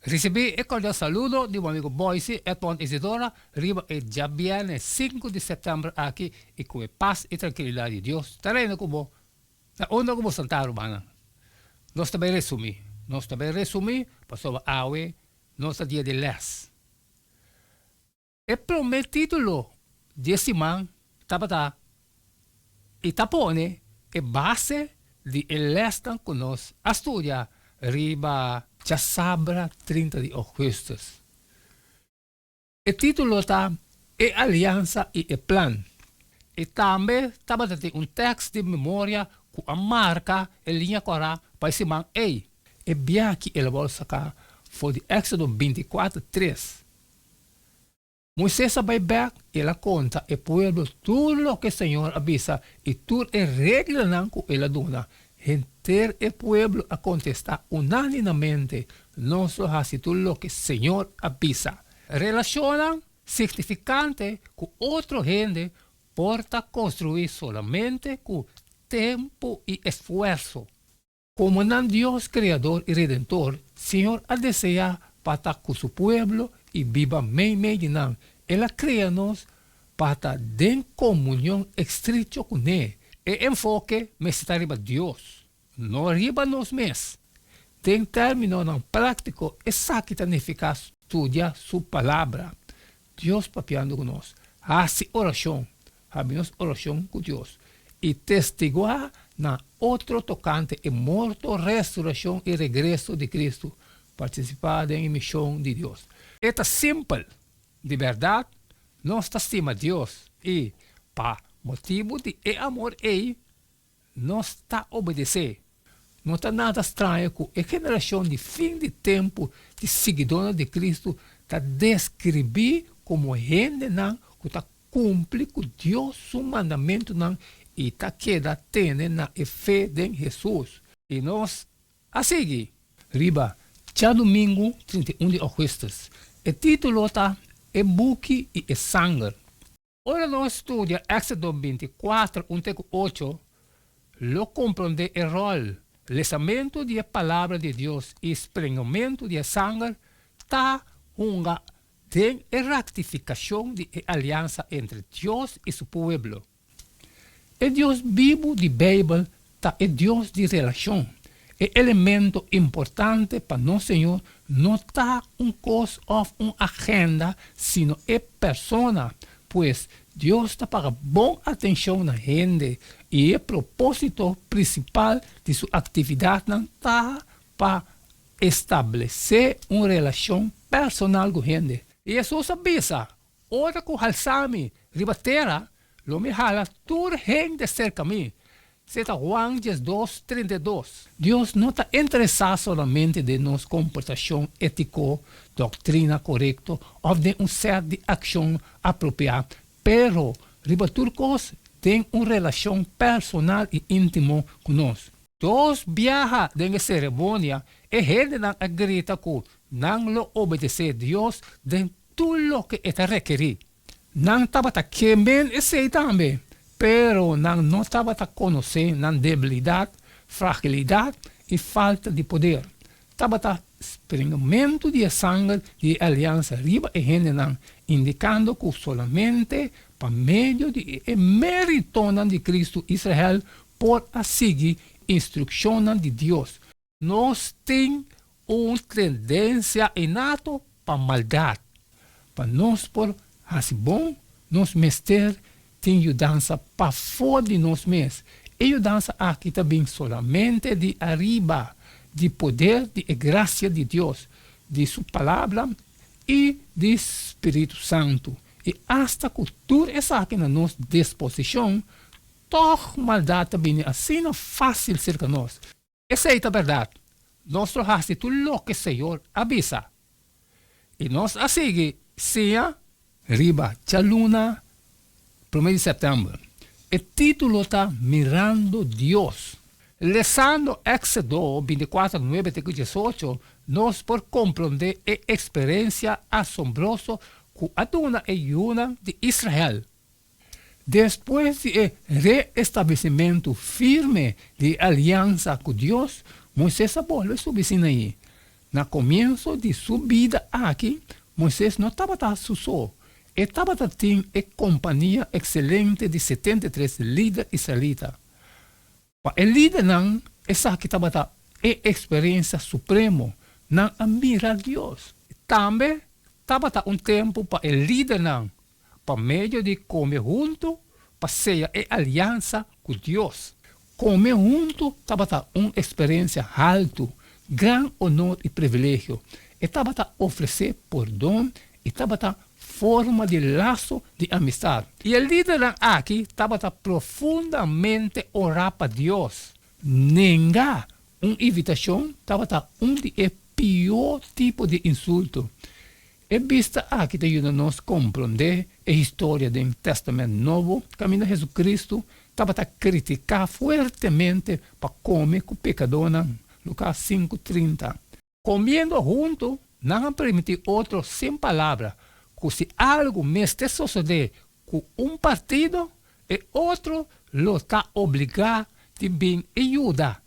Ricibi e cordial saludo di bo amigo Boyce Edmond Isidora riba e diabiernes sinku di september aki y cu e paz y trankilidad di Dios ta reina cu bo na unda cu bo santa rumannan. Nos ta bay resumi, nos ta bay resumi pasobra awe nos ta dia di les. E promé título di e siman tabata I ta pone e base di e lèsnan ku nos a studia riba djasabra trinta di ougùstus. E título ta E aliansa i e plan. I tambe tabata tin un tèks di memoria ku a marka e liña kòrá pa e siman ei. E biaha ki el a wòrdu saka for di Èksodo binti kuater tres Moises a bai bek, i el a konta e pueblo tur loke Señor a bisa i tur e reglanan ku el a duna. Henter e pueblo a kontestá unáninamente, Nos lo hasi tur loke Señor a bisa. Relashonnan signifikante ku otro hende por ta konstruí solamente ku tempu i esfuerso. Komo nan Dios Kreador i Redentor, Señor a deseá pa ta ku su pueblo i biba meimei di nan. El a krea nos pa ta den komunion estricho kuné. E enfoke mester ta riba Dios, no riba nos mes. Den términonan práktiko esaki ta nifiká studia su Palabra. Dios papiando cu nos. Haci oracion. Habi nos oracion cu Dios. Y testigua na otro tocante e morto, resurreccion y regreso di Cristo. Participa den e mision di Dios. E ta simpel, Di berdad, nos ta stima Dios y pa motibu di e amor ey, Nos ta obedesé. No ta nada straño cu e generacion di fin di tempu di siguidónan di Cristo ta describí como hendenan cu ta cumpli cu Dios su mandamentunan i ta keda tene na e fe den Jesús. I nos a sigui riba djadumingu trinta i un di augustus. E título ta E buki i e sanger. Ora lo a studia Exodo binticuatro un te ku ocho, lo komprondé e ròl lesamentu di e Palabra di Dios i sprengumentu di e sanger ta hunga den e ratifikashon di e aliansa entre Dios i su pueblo. E Dios bibu di Beibel ta e Dios di relacion. E elemento importante pa nos Señor no ta un cos of un agenda, sino e persona. Pues, Dios ta paga bon atencion na hende y e proposito principal di su actividadnan ta pa establece un relacion personal cu hende. Jesús a bisa, Ora cu halsa mi riba tera, lo mi hala tur hende cerca mi. Cca Juan diesdos, trinta i dos. Dios no ta interesa solamente den nos comportacion etico, doctrina corecto of den un set di accion apropia, pero riba tur cos den un relacion personal i intimo cu nos. Dos biaha den e ceremonia, e hendenan a grita cu nan lo obedece Dios den Tur loke e ta rekerí. Nan tabata ke men esei tambe, pero nan no tabata konosé nan debilidat, fragilidat i falta di poder. Tabata springamentu di e sanger di e aliansa riba e hendenan, indikando ku solamente pa medio di e meritonan di Kristu Israel por a sigui instrukshonnan di Dios. Nos tin un tendensia inato pa maldat. Pa nos por hasi bon, nos mester tin yudansa pafó di nos mes. E yudansa aki ta bin solamente di ariba, di poder di e grasia di Dios, di su Palabra i di spiritu santu. I asta ku tur esaki na nos disposishon, tòg maldat ta bini asina fásil serka nos. Esei ta berdad, nos lo hasi tur loke Señor a bisa, i nos a sigui siña. Riba djaluna prome di september, e titulo ta Mirando Dios. Lesando Exodo binticuater nuebe te ku diesocho, nos por komprondé e eksperensia asombroso ku a duna e yunan di Israel. Despues di e reestablesimentu firme di e aliansa ku Dios, Moises a bolbe subi Sinaí. Na komienso di su bida aki, Moises no tabata su so. E tabata tin e kompania ekselente di setenta i tres lider israelita. Pa e lidernan esaki tabata e eksperensia supremo, nan a mira Dios. Tambe tabata un tempu pa e lidernan, pa medio di kome huntu, pa sella e aliansa ku Dios. Kome huntu tabata un eksperensia haltu, gran onor i privilegio. E tabata ofresé pordon E tabata forma di laso di amistad. I e lidernan aki tabata profundamente ora pa Dios. Nenga un invitacion tabata un di e pior tipo di insulto. E bista aki ta yuda nos comprende e historia den Testament Nobo caminda Jesucristo tabata critica fuertemente pa come cu pecadornan, Lucas cinco trinta. Comiendo hunto, nan a permiti otro sin palabra cu si algo mester sosode cu un partido, e otro lo ta obliga di bin y yuda.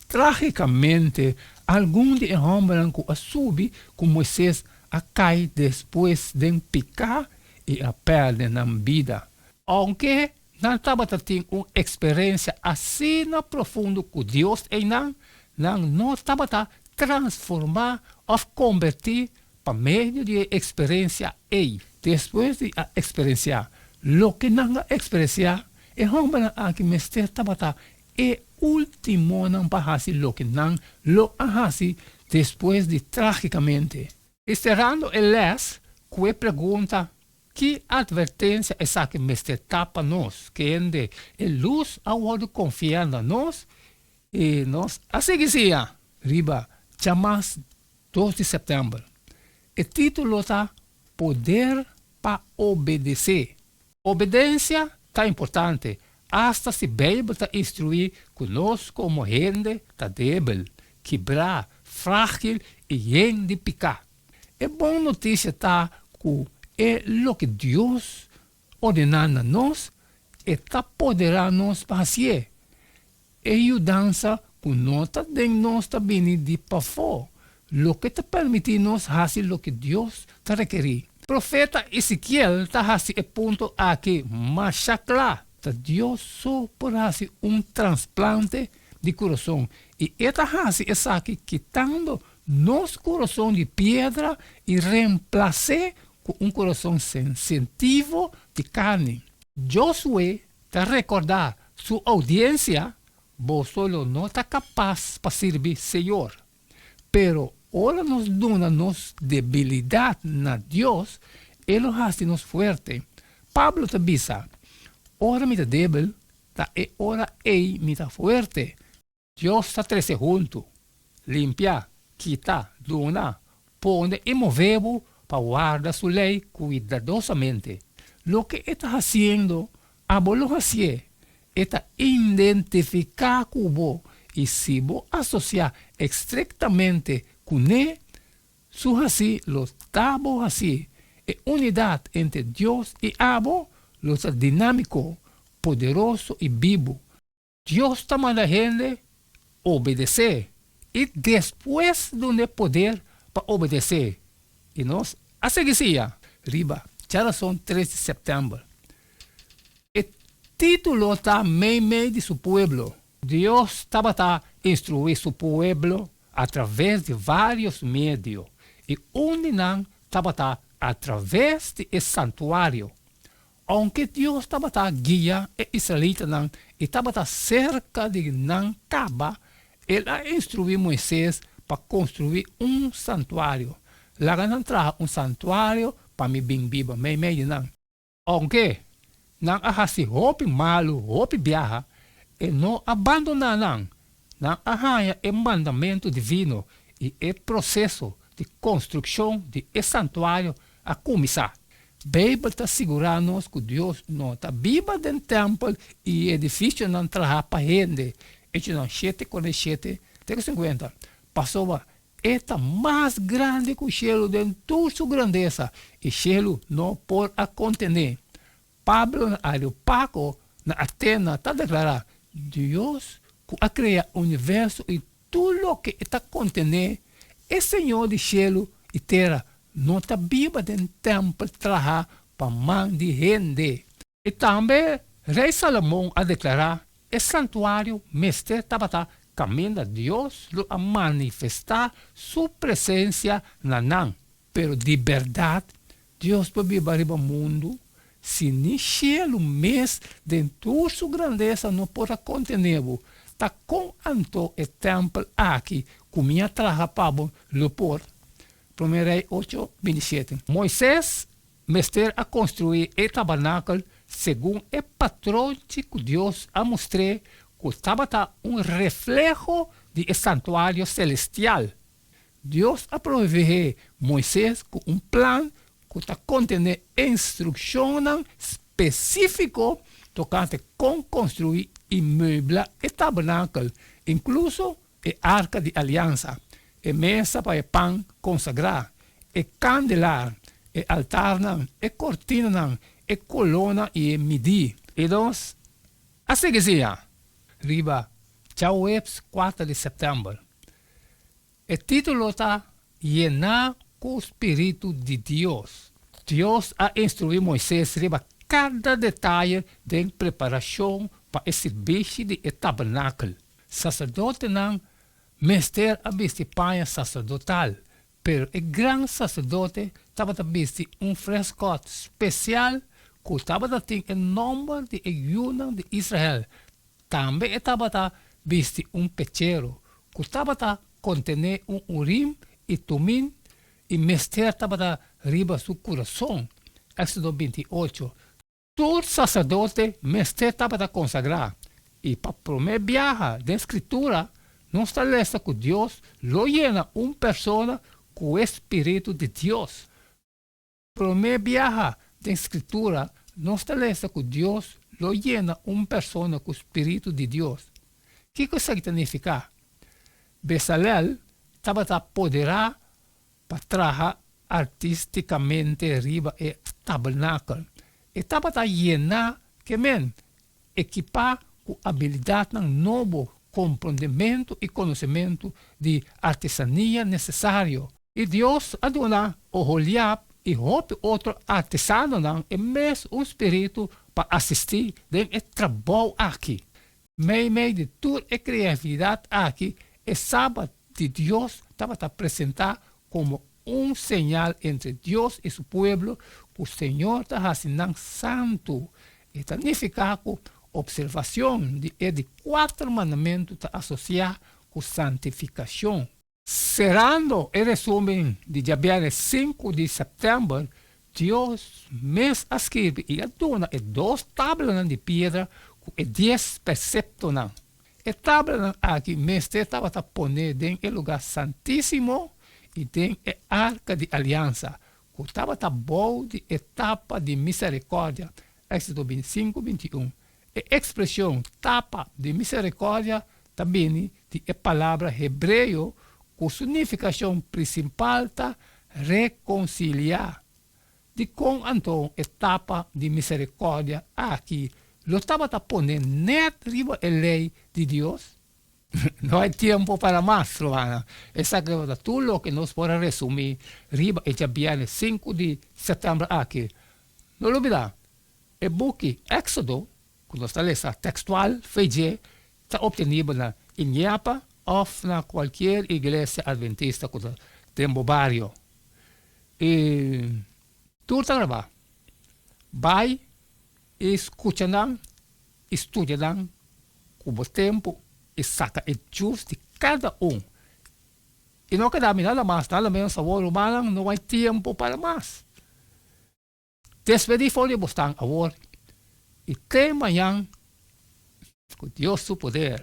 Tragicamente, algun di e hombernan cu a subi cu Moises a cay despues den pica y a perde nan bida. Aunke Nan tabata tin un eksperensia asina profundo ku Dios einan, nan no tabata transformá òf kombertí pa medio di e eksperensia ei. Despues di a eksperensiá loke nan a eksperensiá, e hòmbernan aki mester tabata e últimonan pa hasi loke nan lo a hasi despues di trágikamente. I serando e lès ku e pregunta, Ki atvertensia esaki mester ta pa nos kende e lus a wòrdu konfiá na nos i nos a sigui siña riba djamas dos di sèptèmber? E título ta Poder pa Obedesé, Obedencia ta importante hasta si Bijbel ta instrui cu nos como hende ta debil, kibra, fragil y yen di pica. E bon noticia ta cu e loke Dios ordena na nos e ta podera nos pa haci'e. E yudansa ku no ta den nos ta bini di pafó, loke ta permití nos hasi loke Dios ta rekerí. Profeta Esekiel ta hasi e punto akí masha kla, Ta Dios so por hasi un transplante di kurason, i e ta hasi esaki kitando nos kurason di piedra i remplas'é ku un kurason sensitivo di karni. Josué Ta rekordá su oudiensia, Bo solo no ta kapas pa sirbi Señor, pero ora nos duna nos debilidat na Dios, E lo hasi nos fuerte. Pablo ta bisa, Ora mi ta debel, ta e ora ei mi ta fuerte. Dios ta trese huntu, limpiá, kitá, duna, pone i mové bo pa warda su lei kuidadosamente. Loke e ta hasiendo, abo lo hasié. E ta indentifiká ku bo, i si bo asosiá estrektamente kuné, su hasí lo ta bo hasí. E unidat entre Dios i abo lo ta dinámiko, poderoso i bibu. Dios ta manda hende obedes'é i despues dun'é poder pa obedes'é, i nos a sigui siña. Riba dje rason tres di september e titulo ta Meimei di su pueblo. Dios tabata instruí su pueblo atraves di varios medio, i un di nan tabata atraves di e santuario. Aunke Dios tabata guia e israelitanan i tabata serka di nan caba, el a instruí Moises pa construí un santuario, Laga nan traha un santuario pa mi bin biba meimei di nan. Aunke nan a hasi hopi malu, hopi biaha, e no a bandoná nan, Nan a haña e mandamentu divino i e proseso di konstrukshon di e santuario a kuminsá. Beibel ta sigurá nos ku Dios no ta biba den tèmpel i edifisionan trahá pa hende. Echonan shete konta e shete te ku sinkuenta, Pasobra e ta mas grandi ku shelu den tur su grandesa, i shelu no por a kontené. Pablo na Areopago na Atena ta deklará, Dios ku a krea universo i tur loke e ta kontené, e Señor di shelu i tera, no ta biba den tèmpel traha pa man di hende. I tambe Rei Salomon a deklará, E santuario mester tabata kaminda Dios lo a manifestá su presensia na nan. Pero di bèrdat, Dios por biba riba mundu si ni shelu mes den tur su grandesa no por a kontené bo. Ta kon anto e tèmpel aki ku mi a traha pa bo lo por? Promé Rei ocho, binti shete. Moises mester a konstruí e tabernakel segun e patronchi ku Dios a mustr'é ku tabata un refleho di e santuario selestial. Dios a proveé Moises ku un plan ku ta kontené instrukshonnan spesífiko tokante kon konstruí i meubla e tabernakel, inkluso e arka di aliansa, e mesa pa e pan konsagrá, e kandelar, e altarnan, e kortinanan, e kolona i e midí. I nos a sigui siña riba Tjauwebs kuater di sèptèmber, E titulo ta Yená ku spiritu di Dios. Dios a instruí Moises riba kada detaye den preparashon pa e sirbishi di e tabernakel. Saserdotenan mester a bisti paña saserdotal, Pero e gran saserdote tabata bisti un freskòt spesial ku tabata tin e nòmber di e yunan di Israel. Tambe e tabata bisti un pechero ku tabata kontené un Urim i Tumim i mester tabata riba su kurason, Èksodo binti ocho. Tur saserdote mester tabata konsagrá, i pa promé biaha den Skritura nos ta lesa ku Dios lo yena un persona ku e spiritu di Dios. Promé biaha den Skritura nos ta lesa ku Dios lo yena un persona ku spiritu di Dios. Kiko esaki ta nifiká? Besalel tabata apoderá pa traha artisticamente riba e tabernakel. E tabata yena ke men, ekipa cu abilidadnan nobo, comprondementu y conocementu di artesania necesario. Y Dios a duna Oholiab y hopi otro artesanonan e mes un spiritu pa asisti den e trabou aki. Meimei di tur e creatividad aki e Sabat di Dios tabata presenta como un señal entre Dios i su pueblo cu Señor ta haci nan santu. E ta nifica cu observacion di e di cuater mandamentu ta asocia cu santificacion. Serando e resumen di djabièrnès sinku di sèptèmber, Dios mes a skirbi i a duna e dos tablanan di piedra ku e dies perseptonan. E tablanan aki mester tabata poné den e lugá santísimo i den e arka di aliansa, ku tabata bou di e tapa di miserikòrdia, Èksito bintisinku, bintiun. E ekspresion tapa di miserikòrdia ta bini di e palabra hebreo ku su nifikashon prinsipal ta rekonsiliá. Dikon anto e tapa di miserikòrdia aki lo tabata pone nèt riba e lei di Dios? No hay tiempo para mas, romana. Esaki tabata tur loke nos por a resumí riba e djabièrnes sinku di sèptèmber aki. No lo bida, E buki Éxodo, ku nos ta lesa tekstual fe dje, ta opteniba na Iñiapa òf na kualkier iglesia adventista ku ta den bo bario. E tur ta grabá. Bai i skucha nan i studia nan ku bo tempu i saka e jus di kada un. I no keda mi nada mas, nada menos awor rumannan no bai tempu para mas. Despedí for di bosnan awor i te mañan ku Dios su poder.